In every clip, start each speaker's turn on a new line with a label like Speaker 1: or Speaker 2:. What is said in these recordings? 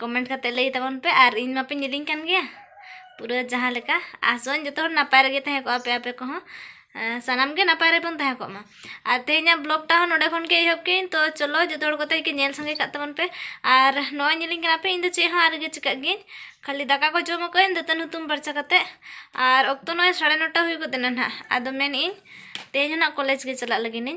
Speaker 1: comment ᱠᱟᱛᱮ ᱞᱟᱹᱭ ᱛᱟᱵᱚᱱ ᱯᱮ ᱟᱨ ᱤᱧ ᱢᱟᱯᱮᱧ ᱤᱫᱤᱧ ᱠᱟᱱ ᱜᱮᱭᱟ ᱯᱩᱨᱟᱹ ᱡᱟᱦᱟᱸ ᱞᱮᱠᱟ ᱟᱥᱚᱜ ᱟᱹᱧ ᱡᱚᱛᱚ ᱦᱚᱲ ᱱᱟᱯᱟᱭ ᱨᱮᱜᱮ ᱛᱟᱦᱮᱸ ᱠᱚᱜᱼᱟ ᱯᱮ ᱟᱯᱮ ᱠᱚᱦᱚᱸ ᱥᱟᱱᱟᱢ ᱜᱮ ᱱᱟᱯᱟᱭ ᱨᱮᱵᱚᱱ ᱛᱟᱦᱮᱸ ᱠᱚᱜ ᱢᱟ ᱟᱨ ᱛᱮᱦᱮᱧᱟᱜ ᱵᱞᱚᱜ ᱴᱟ ᱦᱚᱸ ᱱᱚᱰᱮ ᱠᱷᱚᱱ ᱜᱮ ᱮᱦᱚᱵ ᱠᱮᱜ ᱟᱹᱧ ᱛᱚ ᱪᱚᱞᱚ ᱡᱚᱛᱚ ᱦᱚᱲ ᱠᱚᱛᱮ ᱜᱮ ᱧᱮᱞ ᱥᱟᱸᱜᱮ ᱠᱟᱜ ᱛᱟᱵᱚᱱ ᱯᱮ ᱟᱨ ᱱᱚᱜᱼᱚᱭ ᱧᱮᱞᱤᱧ ᱠᱟᱱᱟ ᱯᱮ ᱤᱧ ᱫᱚ ᱪᱮᱫ ᱦᱚᱸ ᱟᱨᱜᱮ ᱪᱤᱠᱟᱹᱜ ᱜᱤᱭᱟᱹᱧ ᱠᱷᱟᱹᱞᱤ ᱫᱟᱠᱟ ᱠᱚ ᱡᱚᱢ ᱟᱠᱟᱜ ᱟᱹᱧ ᱫᱟᱹᱛᱟᱹᱱ ᱦᱩᱛᱩᱢ ᱯᱷᱟᱨᱪᱟ ᱠᱟᱛᱮ ᱟᱨ ᱚᱠᱛᱚ ᱱᱚᱜᱼᱚᱭ ᱥᱟᱲᱮ ᱱᱚᱴᱟ ᱦᱩᱭ ᱜᱚᱫ ᱮᱱᱟ ᱱᱟᱦᱟᱜ ᱟᱫᱚ ᱢᱮᱱᱮᱜ ᱟᱹᱧ ᱛᱮᱦᱮᱧ ᱦᱚᱸ ᱱᱟᱦᱟᱜ ᱠᱚᱞᱮᱡᱽ ᱜᱮ ᱪᱟᱞᱟᱜ ᱞᱟᱹᱜᱤᱫ ᱤᱧ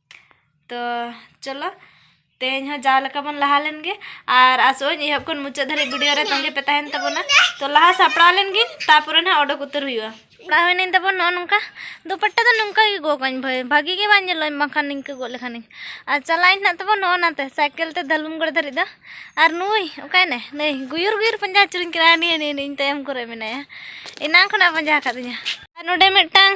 Speaker 1: ᱛᱚ ᱪᱚᱞᱚ ᱛᱮᱦᱮᱧ ᱦᱚᱸ ᱡᱟᱣ ᱞᱮᱠᱟ ᱵᱚᱱ ᱞᱟᱦᱟ ᱞᱮᱱ ᱜᱮ ᱟᱨ ᱟᱥᱚᱜ ᱟᱹᱧ ᱮᱦᱚᱵ ᱠᱷᱚᱱ ᱢᱩᱪᱟᱹᱫ ᱫᱷᱟᱹᱨᱤᱡ ᱵᱷᱤᱰᱤᱭᱳ ᱨᱮ ᱛᱟᱺᱜᱤ ᱯᱮ ᱛᱟᱦᱮᱱ ᱛᱟᱵᱚᱱᱟ ᱛᱚ ᱞᱟᱦᱟ ᱥᱟᱯᱲᱟᱣ ᱞᱮᱱ ᱜᱤᱧ ᱛᱟᱯᱚᱨᱮ ᱱᱟᱜ ᱚᱰᱚᱠ ᱩᱛᱟᱹᱨ ᱦᱩᱭᱩᱜᱼᱟ ᱥᱟᱯᱲᱟᱣ ᱦᱩᱭᱱᱟᱹᱧ ᱛᱟᱵᱚᱱ ᱱᱚᱜᱼᱚ ᱱᱚᱝᱠᱟ ᱫᱩᱯᱟᱴᱴᱟ ᱫᱚ ᱱᱚᱝᱠᱟ ᱜᱮ ᱜᱚᱜ ᱠᱟᱹᱧ ᱵᱷᱟᱹᱭ ᱵᱷᱟᱹᱜᱤ ᱜᱮ ᱵᱟᱝ ᱧᱮᱞᱚᱜᱼᱟ ᱵᱟᱝᱠᱷᱟᱱ ᱱᱤᱝᱠᱟᱹ ᱜᱚᱜ ᱞᱮᱠᱷᱟᱱᱤᱧ ᱟᱨ ᱪᱟᱞᱟᱜ ᱟᱹᱧ ᱱᱟᱜ ᱛᱟᱵᱚᱱ ᱱᱚᱜᱼᱚ ᱱᱟᱛᱮ ᱥᱟᱭᱠᱮᱞ ᱛᱮ ᱫᱟᱞᱩᱢᱜᱚᱲ ᱫᱷᱟᱹᱨᱤᱡ ᱫᱚ ᱟᱨ ᱱᱩᱭ ᱚᱠᱟᱭᱱᱮ ᱱᱩᱭ ᱜᱩᱭᱩᱨ ᱜᱩᱭᱩᱨ ᱯᱟᱸᱡᱟ ᱟᱹᱪᱩᱨᱤᱧ ᱠᱟᱱᱟ ᱱᱤᱭᱟᱹ ᱱᱤᱭᱟᱹ ᱤᱧ ᱛᱟᱭᱚᱢ ᱠᱚᱨᱮ ᱢᱮᱱᱟᱭᱟ ᱮᱱᱟᱝ ᱠᱷᱚᱱᱟᱜ ᱯᱟᱸᱡᱟ ᱟᱠᱟᱫᱤᱧᱟ ᱟᱨ ᱱᱚᱰᱮ ᱢᱤᱫᱴᱟᱝ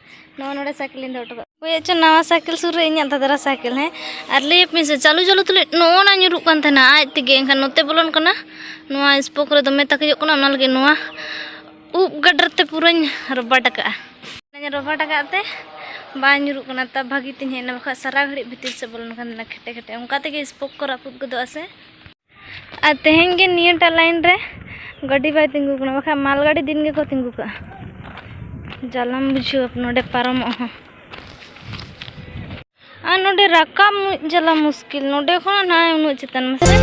Speaker 1: ᱱᱚᱣᱟ ᱱᱚᱰᱮ ᱥᱟᱭᱠᱮᱞ ᱤᱧ ᱫᱚᱦᱚ ᱦᱚᱴᱚ ᱠᱟᱜ ᱦᱳᱭ ᱟᱪᱪᱷᱟ ᱱᱟᱣᱟ ᱥᱟᱭᱠᱮᱞ ᱥᱩᱨ ᱨᱮ ᱤᱧᱟᱹᱜ ᱫᱟᱫᱨᱟ ᱥᱟᱭᱠᱮᱞ ᱦᱮᱸ ᱟᱨ ᱞᱟᱹᱭ ᱟᱯᱮᱭᱟᱹᱧ ᱥᱮ ᱪᱟᱹᱞᱩ ᱪᱟᱹᱞᱩ ᱛᱩᱞᱩᱡ ᱱᱚᱜᱼᱚ ᱱᱟ ᱧᱩᱨᱩᱜ ᱠᱟᱱ ᱛᱟᱦᱮᱱᱟ ᱟᱡ ᱛᱮᱜᱮ ᱮᱱᱠᱷᱟᱱ ᱱᱚᱛᱮ ᱵᱚᱞᱚᱱ ᱠᱟᱱᱟ ᱱᱚᱣᱟ ᱥᱯᱳᱠ ᱨᱮ ᱫᱚᱢᱮ ᱛᱟᱹᱠᱤᱡᱚᱜ ᱠᱟᱱᱟ ᱚᱱᱟ ᱞᱟᱹᱜᱤᱫ ᱱᱚᱣᱟ ᱩᱵ ᱜᱟᱰᱟᱨ ᱛᱮ ᱯᱩᱨᱟᱹᱧ ᱨᱚᱵᱟᱴ ᱟᱠᱟᱜᱼᱟ ᱚᱱᱟᱧ ᱨᱚᱵᱟᱴ ᱟᱠᱟᱫ ᱛᱮ ᱵᱟᱝ ᱧᱩᱨᱩᱜ ᱠᱟᱱᱟ ᱛᱟ ᱵᱷᱟᱹᱜᱤ ᱛᱤᱧ ᱦᱮᱡ ᱮᱱᱟ ᱵᱟᱠᱷᱟᱡ ᱥᱟᱨᱟ ᱜᱷᱟᱹᱲᱤᱡ ᱵᱷᱤᱛᱤᱨ ᱥᱮᱫ ᱵᱚᱞᱚᱱ ᱠᱟᱱ ᱛᱟᱦᱮᱱᱟ ᱠᱷᱮᱴᱮ ᱠᱷᱮᱴᱮ ᱚᱱᱠᱟ ᱛᱮᱜᱮ ᱥᱯᱳᱠ ᱠᱚ ᱨᱟᱹᱯᱩᱫ ᱜᱚᱫᱚᱜᱼᱟ ᱥᱮ ᱟᱨ ᱛᱮᱦᱮᱧ ᱜᱮ ᱱᱤᱭᱟᱹᱴᱟᱜ ᱞᱟᱭᱤᱱ ᱨᱮ ᱜᱟᱹᱰᱤ ᱵᱟᱭ ᱛᱤᱸᱜᱩ ᱠᱟᱱᱟ ᱵᱟᱠᱷᱟᱡ ᱢᱟᱞ ᱜᱟᱹᱰᱤ ᱫᱤᱱ ᱜᱮᱠᱚ ᱛᱤᱸᱜᱩ ᱠᱟᱜᱼᱟ ᱡᱟᱞᱟᱢ ᱵᱩᱡᱷᱟᱹᱣ ᱱᱚᱰᱮ ᱯᱟᱨᱚᱢᱚᱜ ᱦᱚᱸ ᱟᱨ ᱱᱚᱰᱮ ᱨᱟᱠᱟᱵ ᱡᱟᱞᱟ ᱢᱩᱥᱠᱤᱞ ᱱᱚᱰᱮ ᱠᱷᱚᱱ ᱱᱟᱭ ᱩᱱᱟᱹᱜ ᱪᱮᱛᱟᱱ ᱢᱟᱥᱮ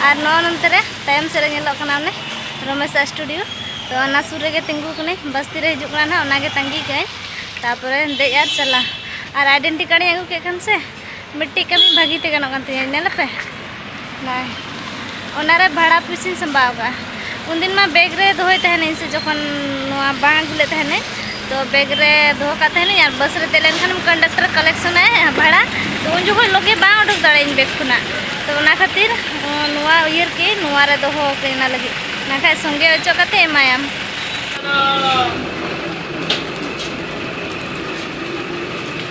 Speaker 1: ᱟᱨ ᱱᱚᱣᱟ ᱱᱚᱱᱛᱮ ᱨᱮ ᱛᱟᱭᱚᱢ ᱥᱮᱫ ᱨᱮ ᱧᱮᱞᱚᱜ ᱠᱟᱱᱟ ᱚᱱᱮ ᱨᱚᱢᱮᱥ ᱥᱴᱩᱰᱤᱭᱳ ᱛᱚ ᱚᱱᱟ ᱥᱩᱨ ᱨᱮᱜᱮ ᱛᱤᱸᱜᱩ ᱠᱟᱹᱱᱟᱹᱧ ᱵᱟᱥᱛᱤ ᱨᱮ ᱦᱤᱡᱩᱜ ᱠᱟᱱᱟ ᱱᱟᱦᱟᱜ ᱚᱱᱟᱜᱮ ᱛᱟᱺᱜᱤ ᱠᱟᱹᱜᱼᱟᱹᱧ ᱛᱟᱨᱯᱚᱨᱮ ᱫᱮᱡ ᱟᱨ ᱪᱟᱞᱟᱜ ᱟᱨ ᱟᱭᱰᱮᱱᱴᱤ ᱠᱟᱨᱰ ᱤᱧ ᱟᱹᱜᱩ ᱠᱮᱫ ᱠᱷᱟᱱ ᱥᱮ ᱢᱤᱫᱴᱤᱡ ᱠᱟᱹᱢᱤ ᱵᱷᱟᱹᱜᱤ ᱛᱮ ᱜᱟᱱᱚᱜ ᱠᱟᱱ ᱛᱤᱧᱟᱹ ᱧᱮᱞ ᱯᱮ ᱱᱚᱜᱼᱚᱭ ᱚᱱᱟᱨᱮ ᱵᱷᱟᱲᱟ ᱯᱩᱭᱥᱟᱹᱧ ᱥᱟᱢᱵᱟᱣ ᱟᱠᱟᱫᱼᱟ ᱩᱱᱫᱤᱱ ᱢᱟ ᱵᱮᱜᱽ ᱨᱮ ᱫᱚᱦᱚᱭ ᱛᱟᱦᱮᱱᱟᱹᱧ ᱥᱮ ᱡᱚᱠᱷᱚᱱ ᱱᱚᱣᱟ ᱵᱟᱝ ᱟᱹᱜᱩ ᱞᱮᱫ ᱛᱟᱦᱮᱱᱟᱹᱧ ᱛᱚ ᱵᱮᱜᱽ ᱨᱮ ᱫᱚᱦᱚ ᱠᱟᱜ ᱛᱟᱦᱮᱱᱟᱹᱧ ᱟᱨ ᱵᱟᱥ ᱨᱮ ᱫᱮᱡ ᱞᱮᱱᱠᱷᱟᱱ ᱠᱚᱱᱰᱟᱠᱴᱚᱨ ᱠᱟᱞᱮᱠᱥᱚᱱ ᱟᱭ ᱵᱷᱟᱲᱟ ᱛᱚ ᱩᱱ ᱡᱚᱠᱷᱚᱱ ᱞᱚᱜᱮ ᱵᱟᱝ ᱩᱰᱩᱠ ᱫᱟᱲᱮᱭᱟᱹᱧ ᱵᱮᱜᱽ ᱠᱷᱚᱱᱟᱜ ᱛᱚ ᱚᱱᱟ ᱠᱷᱟᱹᱛᱤᱨ ᱱᱚᱣᱟ ᱩᱭᱦᱟᱹᱨ ᱠᱮᱫ ᱟᱹᱧ ᱱᱚᱣᱟ ᱨᱮ ᱫᱚᱦᱚ ᱟᱠᱟᱫᱟᱹᱧ ᱚᱱᱟ ᱞᱟᱹᱜᱤᱫ ᱵᱟᱠᱷᱟᱡ ᱥᱚᱸᱜᱮ ᱚᱪᱚᱜ ᱠᱟᱛᱮ ᱮᱢᱟᱭᱟᱢ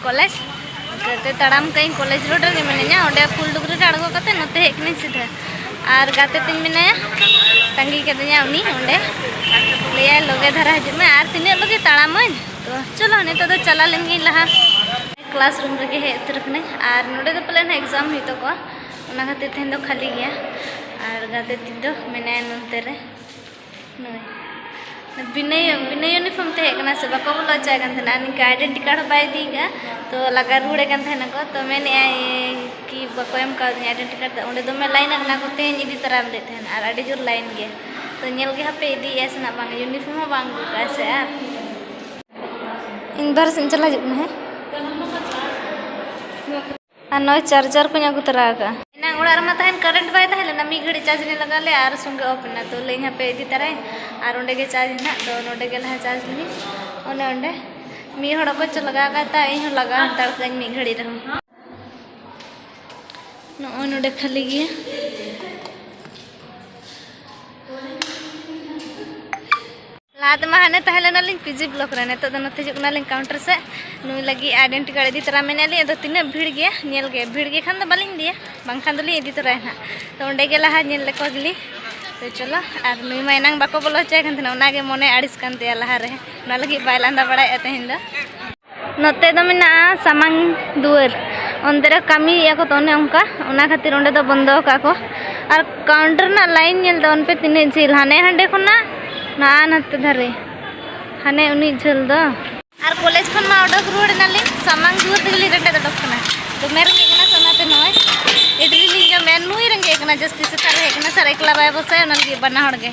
Speaker 1: ᱠᱚᱞᱮᱡᱽ ᱜᱟᱛᱮ ᱛᱟᱲᱟᱢ ᱠᱟᱹᱧ ᱠᱚᱞᱮᱡᱽ ᱨᱳᱰ ᱨᱮᱜᱮ ᱢᱤᱱᱟᱹᱧᱟ ᱚᱸᱰᱮ ᱯᱷᱩᱞ ᱰᱩᱜᱽᱨᱤ ᱨᱮ ᱟᱬᱜᱚ ᱠᱟᱛᱮ ᱱᱚᱛᱮ ᱦᱮᱡ ᱠᱟᱹᱱᱟᱹᱧ ᱥᱤᱫᱷᱟᱹ ᱟᱨ ᱜᱟᱛᱮ ᱛᱤᱧ ᱢᱮᱱᱟᱭᱟ ᱛᱟᱺᱜᱤ ᱠᱟᱹᱫᱤᱧᱟ ᱩᱱᱤ ᱚᱸᱰᱮ ᱞᱟᱹᱭᱟᱭ ᱞᱚᱜᱮ ᱫᱷᱟᱨᱟ ᱦᱤᱡᱩᱜ ᱢᱮ ᱟᱨ ᱛᱤᱱᱟᱹᱜ ᱞᱚᱜᱮ ᱛᱟᱲᱟᱢᱟᱹᱧ ᱛᱚ ᱪᱚᱞᱚ ᱱᱤᱛᱚᱜ ᱫᱚ ᱪᱟᱞᱟᱣ ᱞᱮᱱ ᱜᱤᱧ ᱞᱟᱦᱟ ᱠᱞᱟᱥ ᱨᱩᱢ ᱨᱮᱜᱮ ᱦᱮᱡ ᱩᱛᱟᱹᱨ ᱠᱟᱹᱱᱟᱹᱧ ᱟᱨ ᱱᱚᱰᱮ ᱫᱚ ᱯᱟᱞᱮᱱ ᱮᱠᱡᱟᱢ ᱦᱩᱭᱩᱜ ᱛᱟᱠᱚᱣᱟ ᱚᱱᱟ ᱠᱷᱟᱹᱛᱤᱨ ᱛᱮᱦᱮᱧ ᱫᱚ ᱠᱷᱟᱹᱞᱤ ᱜᱮᱭᱟ ᱟᱨ ᱜᱟᱛᱮ ᱛᱤᱧ ᱫᱚ ᱢᱮᱱᱟᱭᱟ ᱱᱚᱱᱛᱮ ᱨᱮ ᱵᱤᱱᱟᱹ ᱵᱤᱱᱟᱹ ᱤᱭᱩᱱᱤᱯᱷᱚᱨᱢ ᱛᱮ ᱦᱮᱡ ᱠᱟᱱᱟ ᱥᱮ ᱵᱟᱠᱚ ᱵᱚᱞᱚ ᱦᱚᱪᱚᱣᱟᱭ ᱠᱟᱱ ᱛᱟᱦᱮᱱᱟ ᱱᱤᱝᱠᱟ ᱟᱭᱰᱮᱱᱴᱤ ᱠᱟᱨᱰ ᱦᱚᱸ ᱵᱟᱭ ᱤᱫᱤ ᱠᱟᱜᱼᱟ ᱛᱚ ᱞᱟᱜᱟ ᱨᱩᱣᱟᱹᱲᱮ ᱠᱟᱱ ᱛᱟᱦᱮᱱᱟᱠᱚ ᱛᱚ ᱢᱮᱱᱮᱫᱼᱟᱭ ᱠᱤ ᱵᱟᱠᱚ ᱮᱢ ᱠᱟᱣᱫᱤᱧᱟ ᱟᱭᱰᱮᱱᱴᱤ ᱠᱟᱨᱰ ᱫᱚ ᱚᱸᱰᱮ ᱫᱚᱢᱮ ᱞᱟᱭᱤᱱ ᱟᱠᱟᱱᱟ ᱠᱚ ᱛᱮᱦᱮᱧ ᱤᱫᱤ ᱛᱟᱨᱟᱭᱟᱢ ᱞᱟᱹᱭᱮᱫ ᱛᱟᱦᱮᱱᱟ ᱟᱨ ᱟᱹᱰᱤ ᱡᱳᱨ ᱞᱟᱭᱤᱱ ᱜᱮᱭᱟ ᱛᱚ ᱧᱮᱞ ᱜᱮ ᱦᱟᱯᱮ ᱤᱫᱤᱭᱮᱫᱼᱟᱭ ᱥᱮ ᱱᱟᱜ ᱵᱟᱝ ᱤᱭᱩᱱᱤᱯᱷᱚᱨᱢ ᱦᱚᱸ ᱵᱟᱝ ᱟᱹᱜᱩ ᱠᱟᱜᱼᱟᱭ ᱥᱮ ᱟᱨ ᱤᱧ ᱵᱟᱨᱦᱮ ᱥᱮᱫ ᱤᱧ ᱪᱟᱞᱟᱣ ᱦᱤᱡᱩᱜ ᱠᱟᱱᱟ ᱦᱮᱸ ᱟᱨ ᱱᱚᱜᱼᱚᱭ ᱪᱟᱨᱡᱟᱨ ᱠᱚᱧ ᱟᱹᱜᱩ ᱛᱚᱨᱟ ᱟᱠᱟᱫᱼᱟ ᱮᱱᱟᱝ ᱚᱲᱟᱜ ᱨᱮᱢᱟ ᱛᱟᱦᱮᱱ ᱠᱟᱨᱮᱱᱴ ᱵᱟᱭ ᱛᱟᱦᱮᱸ ᱞᱮᱱᱟ ᱢᱤᱫ ᱜᱷᱟᱹᱲᱤᱡ ᱪᱟᱨᱡᱽ ᱞᱮ ᱞᱟᱜᱟᱣ ᱞᱮᱫᱼᱟ ᱟᱨ ᱥᱚᱸᱜᱮ ᱚᱯᱷ ᱮᱱᱟ ᱛᱚ ᱞᱟᱹᱭᱟᱹᱧ ᱦᱟᱯᱮ ᱤᱫᱤ ᱛᱟᱨᱟᱭᱟᱹᱧ ᱟᱨ ᱚᱸᱰᱮ ᱜᱮ ᱪᱟᱨᱡᱽ ᱦᱮᱱᱟᱜ ᱛᱚ ᱱᱚᱸᱰᱮ ᱜᱮ ᱞᱟᱦᱟ ᱪᱟᱨᱡᱽ ᱞᱤᱧ ᱚᱱᱮ ᱚᱸᱰᱮ ᱢᱤᱫ ᱦᱚᱲ ᱚᱠᱚᱭ ᱪᱚ ᱞᱟᱜᱟᱣ ᱟᱠᱟᱫ ᱛᱟᱭ ᱤᱧ ᱦᱚᱸ ᱞᱟᱜᱟᱣ ᱦᱟᱛᱟᱲ ᱠᱟᱹᱧ ᱢᱤᱫ ᱜᱷᱟᱹᱲᱤᱡ ᱨᱮᱦᱚᱸ ᱱᱚᱜᱼᱚᱭ ᱱᱚᱸᱰᱮ ᱠᱷᱟᱹᱞᱤ ᱜᱮᱭᱟ ᱞᱟᱦᱟ ᱛᱮᱢᱟ ᱦᱟᱱᱮ ᱛᱟᱦᱮᱸ ᱞᱮᱱᱟᱞᱤᱧ ᱯᱤᱡᱤ ᱵᱞᱚᱠ ᱨᱮ ᱱᱤᱛᱚᱜ ᱫᱚ ᱱᱚᱛᱮ ᱦᱤᱡᱩᱜ ᱠᱟᱱᱟᱞᱤᱧ ᱠᱟᱣᱩᱱᱴᱟᱨ ᱥᱮᱫ ᱱᱩᱭ ᱞᱟᱹᱜᱤᱫ ᱟᱭᱰᱮᱱᱴᱤ ᱠᱟᱨᱰ ᱤᱫᱤ ᱛᱚᱨᱟ ᱢᱮᱱᱮᱫ ᱞᱤᱧ ᱟᱫᱚ ᱛᱤᱱᱟᱹᱜ ᱵᱷᱤᱲ ᱜᱮᱭᱟ ᱧᱮᱞ ᱜᱮ ᱵᱷᱤᱲ ᱜᱮ ᱠᱷᱟᱱ ᱫᱚ ᱵᱟᱹᱞᱤᱧ ᱤᱫᱤᱭᱟ ᱵᱟᱝᱠᱷᱟᱱ ᱫᱚᱞᱤᱧ ᱤᱫᱤ ᱛᱚᱨᱟᱭᱟ ᱱᱟᱦᱟᱜ ᱛᱚ ᱚᱸᱰᱮ ᱜᱮ ᱞᱟᱦᱟ ᱧᱮᱞ ᱞᱮᱠᱚ ᱜᱮᱞᱤᱧ ᱛᱚ ᱪᱚᱞᱚ ᱟᱨ ᱱᱩᱭ ᱢᱟ ᱮᱱᱟᱝ ᱵᱟᱠᱚ ᱵᱚᱞᱚ ᱦᱚᱪᱚᱭ ᱠᱟᱱ ᱛᱟᱦᱮᱱᱟ ᱚᱱᱟᱜᱮ ᱢᱚᱱᱮ ᱟᱹᱲᱤᱥ ᱠᱟᱱ ᱛᱟᱭᱟ ᱞᱟᱦᱟᱨᱮ ᱚᱱᱟ ᱞᱟᱹᱜᱤᱫ ᱵᱟᱭ ᱞᱟᱸᱫᱟ ᱵᱟᱲᱟᱭᱮᱫᱼᱟ ᱛᱮᱦᱮᱧ ᱫᱚ ᱱᱚᱛᱮ ᱫᱚ ᱢᱮᱱᱟᱜᱼᱟ ᱥᱟᱢᱟᱝ ᱫᱩᱣᱟᱹᱨ ᱚᱱᱛᱮ ᱨᱮ ᱠᱟᱹᱢᱤᱭᱮᱫᱼᱟ ᱠᱚ ᱛᱚ ᱚᱱᱮ ᱚᱱᱠᱟ ᱚᱱᱟ ᱠᱷᱟᱹᱛᱤᱨ ᱚᱸᱰᱮ ᱫᱚ ᱵᱚᱱᱫᱚ ᱟᱠᱟᱫᱼᱟ ᱠᱚ ᱟᱨ ᱠᱟᱣᱩᱱᱴᱟᱨ ᱨᱮᱱᱟᱜ ᱞᱟᱭᱤᱱ ᱧᱮᱞ ᱛᱟᱵᱚᱱ ᱯᱮ ᱛᱤᱱᱟᱹᱜ ᱡᱷᱟᱹᱞ ᱦᱟᱱᱮ ᱦᱟᱸᱰᱮ ᱠᱷᱚᱱᱟᱜ ᱱᱟᱜᱼᱟ ᱱᱟᱛᱮ ᱫᱷᱟᱨᱮ ᱦᱟᱱᱮ ᱩᱱᱟᱹᱜ ᱡᱷᱟᱹᱞ ᱫᱚ ᱟᱨ ᱠᱚᱞᱮᱡᱽ ᱠᱷᱚᱱ ᱢᱟ ᱚᱰᱚᱠ ᱨᱩᱣᱟᱹᱲ ᱮᱱᱟᱞᱤᱧ ᱥᱟᱢᱟᱝ ᱫᱩᱣᱟᱹᱨ ᱛᱮᱜᱮᱞᱤᱧ ᱨᱮᱸᱜᱮᱡ ᱚᱰᱚᱠ ᱠᱟᱱᱟ ᱫᱚᱢᱮ ᱨᱮᱸᱜᱮᱡ ᱠᱟᱱᱟ ᱥᱮ ᱚᱱᱟᱛᱮ ᱱᱚᱜᱼᱚᱭ ᱤᱰᱞᱤ ᱞᱤᱧ ᱡᱚᱢᱮᱫᱼᱟ ᱱᱩᱭ ᱨᱮᱸᱜᱮᱡ ᱠᱟᱱᱟ ᱡᱟᱹᱥᱛᱤ ᱥᱮᱛᱟᱜ ᱨᱮ ᱦᱮᱡ ᱠᱟᱱᱟ ᱥᱟᱨ ᱮᱠᱞᱟ ᱵᱟᱭ ᱵᱚᱥᱮ ᱚᱱᱟ ᱞᱟᱹᱜᱤᱫ ᱵᱟᱱᱟ ᱦᱚᱲ ᱜᱮ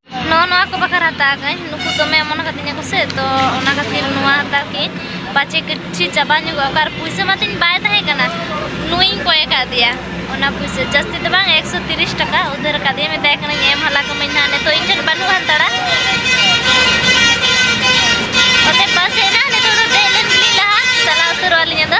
Speaker 1: ᱱᱚᱣᱟ ᱱᱚᱣᱟ ᱠᱚ ᱵᱟᱠᱷᱨᱟ ᱦᱟᱛᱟᱣ ᱠᱟᱹᱧ ᱱᱩᱠᱩ ᱫᱚᱢᱮ ᱚᱢᱚᱱ ᱠᱟᱹᱫᱤᱧᱟ ᱠᱚ ᱥᱮ ᱛᱚ ᱚᱱᱟ ᱠᱷᱟᱹᱛᱤᱨ ᱱᱚᱣᱟ ᱦᱟᱛᱟᱣ ᱠᱤᱧ ᱯᱟᱪᱮ ᱠᱤᱪᱷᱩ ᱪᱟᱵᱟ ᱧᱚᱜᱚᱜ ᱚᱠᱟᱨ ᱯᱩᱭᱥᱟᱹ ᱢᱟ ᱛᱤᱧ ᱵᱟᱭ ᱛᱟᱦᱮᱸ ᱠᱟᱱᱟ ᱱᱩᱭᱤᱧ ᱠᱚᱭ ᱟᱠᱟᱫᱮᱭᱟ ᱚᱱᱟ ᱯᱩᱭᱥᱟᱹ ᱡᱟᱹᱥᱛᱤ ᱫᱚ ᱵᱟᱝ ᱮᱠᱥᱚ ᱛᱤᱨᱤᱥ ᱴᱟᱠᱟ ᱩᱫᱷᱟᱹᱨ ᱟᱠᱟᱫᱮᱭᱟ ᱢᱮᱛᱟᱭ ᱠᱟᱹᱱᱟᱹᱧ ᱮᱢ ᱦᱟᱞᱟ ᱠᱟᱹᱢᱟᱹᱧ ᱱᱟᱦᱟᱜ ᱱᱤᱛᱚᱜ ᱤᱧ ᱴᱷᱮᱱ ᱵᱟᱹᱱᱩᱜ ᱦᱟᱛᱟᱲᱟ ᱚᱛᱮ ᱵᱟᱥ ᱦᱮᱡ ᱮᱱᱟ ᱱᱤᱛᱚᱜ ᱫᱚ ᱫᱮᱡ ᱞᱮᱱ ᱜᱮᱞᱤᱧ ᱞᱟᱦᱟ ᱪᱟᱞᱟᱣ ᱩᱛᱟᱹᱨᱚᱜ ᱟᱹᱞᱤᱧ ᱟᱫᱚ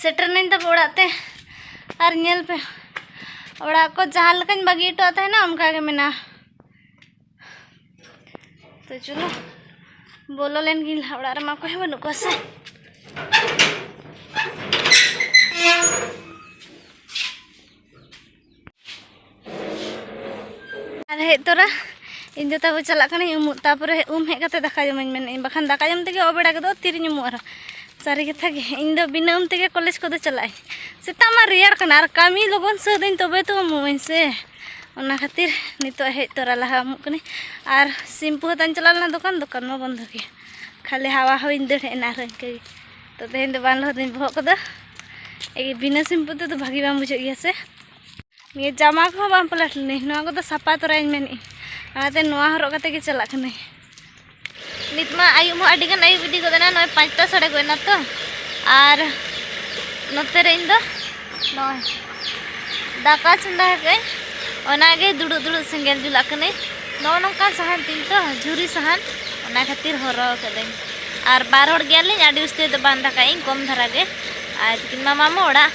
Speaker 1: ᱥᱮᱴᱮᱨ ᱱᱟᱹᱧ ᱛᱟᱯᱮ ᱚᱲᱟᱜ ᱛᱮ ᱟᱨ ᱧᱮᱞ ᱯᱮ ᱚᱲᱟᱜ ᱠᱚ ᱡᱟᱦᱟᱸ ᱞᱮᱠᱟᱧ ᱵᱟᱹᱜᱤ ᱦᱚᱴᱚᱣᱟᱜ ᱛᱟᱦᱮᱱᱟ ᱚᱱᱠᱟ ᱜᱮ ᱢᱮᱱᱟᱜᱼᱟ ᱛᱚ ᱪᱚᱞᱚ ᱵᱚᱞᱚ ᱞᱮᱱ ᱜᱤᱧ ᱞᱟᱦᱟ ᱚᱲᱟᱜ ᱨᱮᱢᱟ ᱚᱠᱚᱭ ᱦᱚᱸ ᱵᱟᱹᱱᱩᱜ ᱠᱚᱣᱟ ᱥᱮ ᱟᱨ ᱦᱮᱡ ᱛᱚᱨᱟ ᱤᱧ ᱫᱚ ᱛᱟᱵᱚ ᱪᱟᱞᱟᱜ ᱠᱟᱹᱱᱟᱹᱧ ᱩᱢᱩᱜ ᱛᱟᱯᱚᱨᱮ ᱩᱢ ᱦᱮᱡ ᱠᱟᱛᱮ ᱫᱟᱠᱟ ᱡᱚᱢᱟᱹᱧ ᱢᱮᱱᱮᱫ ᱤᱧ ᱵᱟᱠᱷᱟᱱ ᱫᱟᱠᱟ ᱡᱚᱢ ᱛᱮᱜᱮ ᱚᱵᱮᱲᱟ ᱜᱚᱫᱚᱜ ᱛᱤᱨᱤᱧ ᱩᱢᱩᱜ ᱟᱨᱦᱚᱸ ᱥᱟᱹᱨᱤ ᱠᱟᱛᱷᱟ ᱜᱮ ᱤᱧ ᱫᱚ ᱵᱤᱱᱟᱹ ᱩᱢ ᱛᱮᱜᱮ ᱠᱚᱞᱮᱡᱽ ᱠᱚᱫᱚ ᱪᱟᱞᱟᱜ ᱟᱹᱧ ᱥᱮᱛᱟᱜ ᱢᱟ ᱨᱮᱭᱟᱲ ᱠᱟᱱᱟ ᱟᱨ ᱠᱟᱹᱢᱤ ᱞᱚᱜᱚᱱ ᱥᱟᱹᱛ ᱟᱹᱧ ᱛᱚᱵᱮ ᱛᱚ ᱩᱢᱩᱜ ᱟᱹᱧ ᱥᱮ ᱚᱱᱟ ᱠᱷᱟᱹᱛᱤᱨ ᱱᱤᱛᱚᱜ ᱦᱮᱡ ᱛᱚᱨᱟ ᱞᱟᱦᱟ ᱩᱢᱩᱜ ᱠᱟᱹᱱᱟᱹᱧ ᱟᱨ ᱥᱤᱢᱯᱩ ᱦᱟᱛᱟᱧ ᱪᱟᱞᱟᱣ ᱞᱮᱱᱟ ᱫᱚᱠᱟᱱ ᱫᱚᱠᱟᱱ ᱢᱟ ᱵᱚᱱᱫᱚ ᱜᱮᱭᱟ ᱠᱷᱟᱹᱞᱤ ᱦᱟᱣᱟ ᱦᱚᱸᱧ ᱫᱟᱹᱲ ᱦᱮᱡ ᱮᱱᱟ ᱟᱨᱦᱚᱸ ᱤᱱᱠᱟᱹ ᱜᱮ ᱛᱚ ᱛᱮᱦᱮᱧ ᱫᱚ ᱵᱟᱝ ᱞᱚᱦᱚᱫᱤᱧ ᱵᱚᱦᱚᱜ ᱠᱚᱫᱚ ᱮᱜᱮ ᱵᱤᱱᱟᱹ ᱥᱤᱢᱯᱩ ᱛᱮᱫᱚ ᱵᱷᱟᱹᱜᱤ ᱵᱟᱝ ᱵᱩᱡᱷᱟᱹᱜ ᱜᱮᱭᱟ ᱥᱮ ᱱᱤᱭᱟᱹ ᱡᱟᱢᱟ ᱠᱚᱦᱚᱸ ᱵᱟᱝ ᱯᱟᱞᱟᱴ ᱞᱤᱱᱟᱹᱧ ᱱᱚᱣᱟ ᱠᱚᱫᱚ ᱥᱟᱯᱟ ᱛᱚᱨᱟᱧ ᱢᱮᱱᱮᱫ ᱚᱱᱟᱛᱮ ᱱᱚᱣᱟ ᱦᱚᱨᱚᱜ ᱠᱟᱛᱮ ᱜᱮ ᱪᱟᱞᱟᱜ ᱠᱟᱹᱱᱟᱹᱧ ᱱᱤᱛ ᱢᱟ ᱟᱹᱭᱩᱵ ᱦᱚᱸ ᱟᱹᱰᱤ ᱜᱟᱱ ᱟᱹᱭᱩᱵ ᱤᱫᱤ ᱜᱚᱫ ᱮᱱᱟ ᱱᱚᱜᱼᱚᱭ ᱯᱟᱸᱪᱴᱟ ᱥᱟᱲᱮ ᱜᱚᱫ ᱮᱱᱟ ᱛᱚ ᱟᱨ ᱱᱚᱛᱮ ᱨᱮ ᱤᱧ ᱫᱚ ᱱᱚᱜᱼᱚᱭ ᱫᱟᱠᱟ ᱪᱚᱸᱫᱟ ᱠᱟᱜᱼᱟᱹᱧ ᱚᱱᱟᱜᱮ ᱫᱩᱲᱩᱵ ᱫᱩᱲᱩᱵ ᱥᱮᱸᱜᱮᱞ ᱡᱩᱞᱟᱜ ᱠᱟᱹᱱᱟᱹᱧ ᱱᱚᱜᱼᱚ ᱱᱚᱝᱠᱟ ᱥᱟᱦᱟᱱ ᱛᱤᱧ ᱛᱚ ᱡᱷᱩᱨᱤ ᱥᱟᱦᱟᱱ ᱚᱱᱟ ᱠᱷᱟᱹᱛᱤᱨ ᱦᱚᱨᱚ ᱠᱟᱹᱫᱟᱹᱧ ᱟᱨ ᱵᱟᱨ ᱦᱚᱲ ᱜᱮᱭᱟᱞᱤᱧ ᱟᱹᱰᱤ ᱩᱥᱛᱟᱹᱨ ᱫᱚ ᱵᱟᱝ ᱫᱟᱠᱟᱭᱟᱹᱧ ᱠᱚᱢ ᱫᱷᱟᱨᱟ ᱜᱮ ᱟᱨ ᱛᱤᱠᱤᱱ ᱢᱟ ᱢᱟᱢᱚ ᱚᱲᱟᱜ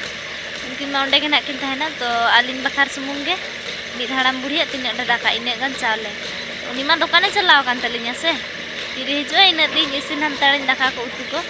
Speaker 1: ᱩᱱᱠᱤᱱ ᱢᱟ ᱚᱸᱰᱮ ᱜᱮ ᱱᱟᱜ ᱠᱤᱱ ᱛᱟᱦᱮᱱᱟ ᱛᱚ ᱟᱹᱞᱤᱧ ᱵᱟᱠᱷᱟᱨ ᱥᱩᱢᱩᱝ ᱜᱮ ᱢᱤᱫ ᱦᱟᱲᱟᱢ ᱵᱩᱲᱦᱤᱭᱟᱜ ᱛᱤᱱᱟᱹᱜ ᱰᱷᱮᱨ ᱫᱟᱠᱟ ᱤᱱᱟᱹᱜ ᱜᱟᱱ ᱪᱟᱣᱞᱮ ᱩᱱᱤ ᱢᱟ ᱫᱚᱠᱟᱱᱮ ᱪᱟᱞᱟᱣ ᱟᱠᱟᱱ ᱛᱟᱹᱞᱤᱧᱟ ᱥᱮ ᱛᱤᱨᱮ ᱦᱤᱡᱩᱜᱼᱟᱭ ᱤᱱᱟᱹᱜ ᱛᱮ ᱤᱥᱤᱱ ᱦᱟᱱᱛᱟᱲᱟᱹᱧ ᱫᱟᱠᱟ ᱠᱚ ᱩᱛᱩ ᱠᱚ